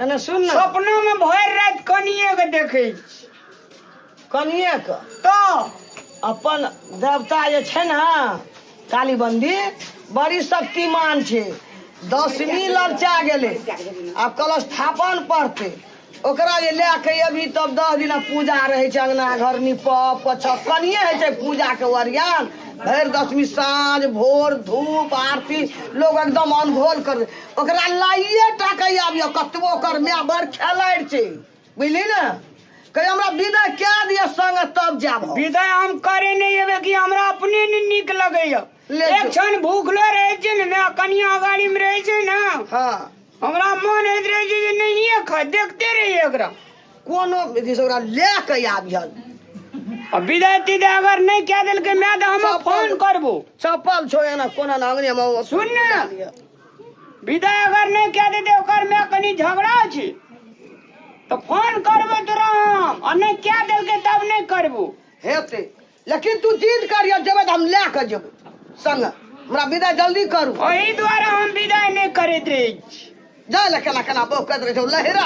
एने सुन ने सपना में भर रात कनिए के देखे छी। कनिए के तो अपन देवता जे छै ने काली मंदिर बड़ी शक्तिमान छै दसमी ललचा गेलै आब कलश स्थापन पड़तै ओकरा जे लए के अभी तब दस दिना पूजा रहै छै अङ्गना घर निपऽ पोछऽ कनिए होइ छै पूजाके ओरियान भरि दसमी साँझ भोर धूप आरती लोग एकदम अनघोल कर ओकरा लाइए टा कहि आबियो कतबो ओकर माय बड़ खेलाड़ि छै बुझली ने कहियो हमरा विदा कए दिअ संग तब जायब हम। विदाई हम करे नहीं एबे कि हमरा अपने ने निक लगे ये ले एक जो। क्षण भूखलो रहे छै ने मैं कनिया अगाड़ी में रहे छै ना हँ हमरा मन होइत रहे छै जे नहिए खा देखते रहिए एकरा कोनो विधि से ओकरा लए कऽ आबिहल आ विदाई तिदाई अगर नहीं कह देलकै मैं तो हम सब फोन करबो चप्पल छो एना कोना नांगने में सुन ने विदाई अगर नहीं कह देते ओकर में कनी झगड़ा छी तो फोन करबो तोरा हम और नहीं क्या दिल के तब नहीं करबो हेते लेकिन तू जिद करियो जेबै त हम ले के जेबै संग हमरा विदा जल्दी करू वही द्वारा हम विदाई नहीं करते रहे छी जा ले केना केना बौक करैत रहै छौ लहरा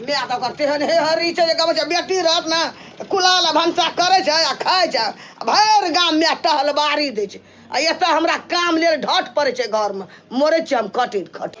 माय तऽ ओकर तेहन हे हरी छै जे कहबै छै बेटी रहत ने तऽ कुलाल आ भनसा करै छै आ खाइ छै आ भरि गाम माय टहलबारी दै छै आ एतऽ हमरा काम लेल ढट पड़ै छै घरमे मरै छियै हम कटि खट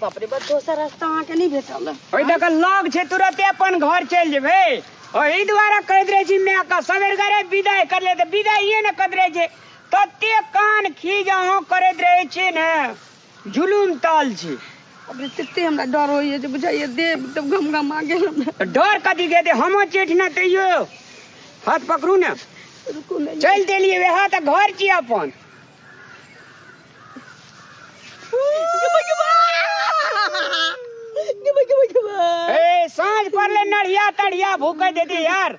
बाप रे बाप दोसर रास्ता अहाँके नहि भेटल ओहि दऽ कऽ लग छै तुरते अपन घर चलि जेबै ओहि दुआरे कहैत रहै छी माय का सवेर गरे विदाइ कर ले तऽ विदाइए ने करैत रहै छै तते कान खीज अहाँ करैत रहै छी ने जुलूम ताल छी अब तते हमरा डर होइए जे बुझाइए देह एकदम गमगमा गेल हमरा डर कथी के दे हमो चेठ ना तैयो हाथ पकड़ू ने रुकू ने चल देलिए वह तो घर छी अपन ए साँझ पड़ले नढ़िया तढ़िया भूखे देते यार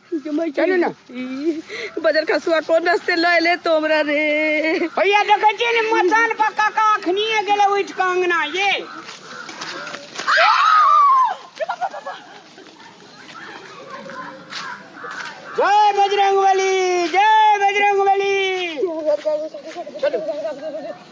चलू ने बजर खसुआ कोन रस्ते लऽ एले तो हमरा रे भैया देखै छियै ने मचान पर काका अखनिए गेलै उठि कऽ अंगना ये जय बजरंग बली जय बजरंग बली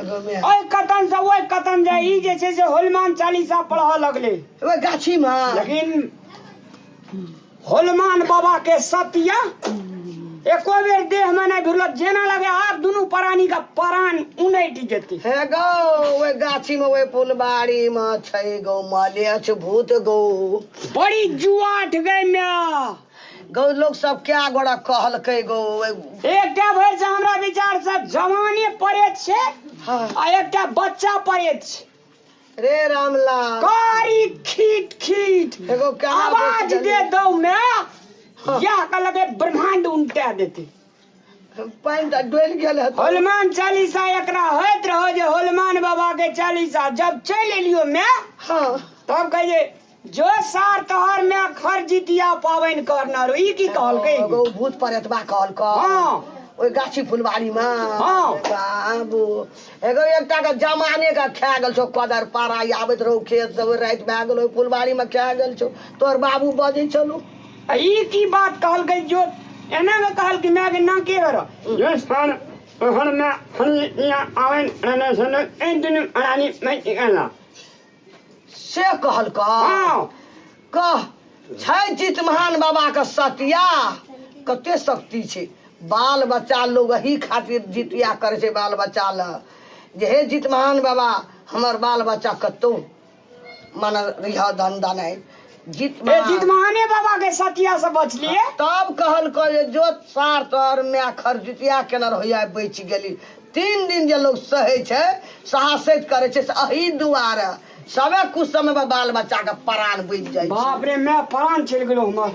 ओहि कतन से ओहि कतन जे ई जे छै से होलमान चालीसा पढ़ऽ लगले ओहि गाछी मे लेकिन होलमान बाबा के सत्य एको बेर देह में नहीं भिड़ल जेना लगे आब दुनू प्राणी का प्राण उनटि जेतै हे गौ ओहि गाछी मे ओहि फुलबाड़ी मे छै गौ मलेछ भूत गौ बड़ी जुआठ गई मैं गौ लोग सब क्या गोड़ा कहलकै गौ एकटा भरि से हमरा विचार से जवाने परेत छै हाँ। आ एकटा बच्चा परेत छै रे रामला कारी खीट खीट एगो क्या आवाज दे दो मैं यह कहलकै ब्रह्मांड उनटा देते पानि तऽ डोलि गेल हेतौ हनुमान चालीसा एकरा होइत रहो जे हनुमान बाबा के चालीसा जब चल एलियो मैं हँ तब कहिए जो सार तोहर मैं खर जितिया पावनि करना रो ई की कहलकै एगो भूत परेतबा कहलक हाँ। ओहि गाछी फुलवारी मे हाँ। बाबू एगो एकटा के जमाने के खा गेल छौ कदर पारा आबैत रहौ खेत से ओहि राति भए गेल ओहि फुलवारी मे खा गेल छौ तोहर बाबू बजै छलू आ ई की बात कहलकै जो एना के कहलकै मैं के ना के करो ये स्थान हर में हर या आवन रहने से ने एक दिन अनानी मैं की कहला से कहलका हां कह छै चित महान बाबा के सतिया कते शक्ति छै बाल बच्चा लोग एही खातिर जितिया करे छै बाल बच्चा ल जे हे जित महान बाबा हमर बाल बच्चा कतौ माना रिहा धन दान है जीत ए महान। जीत महाने बाबा के सतिया से बचलिए तब कहल करे जो सार तोहर माय खरजुतिया केना होइया बच गेली तीन दिन जे लोग सहै छै साहसैत करै छै से अही दुआरे सबे कुछ समय बाल बच्चा के प्राण बचि जाइ छै बाप रे मैं प्राण चल गेलो हमर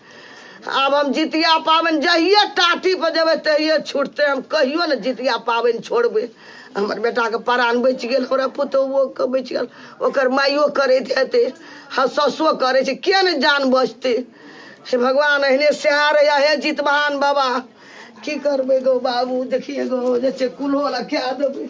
आब हम जितिया पाबनि जहिए टाटी पर जेबै तहिए छुटतै हम कहियो ने जितिया पाबनि छोड़बै हमर बेटाके प्राण बचि गेल हमरा पुतोहुओके बचि गेल ओकर माइयो करैत हेतै हँ ससुओ करै छै किए ने जान बचतै हे भगवान एहने सएह रहैए हे जितवाहन बाबा की करबै गो बाबू देखिए गो जे छै कुल्हो लगा देबै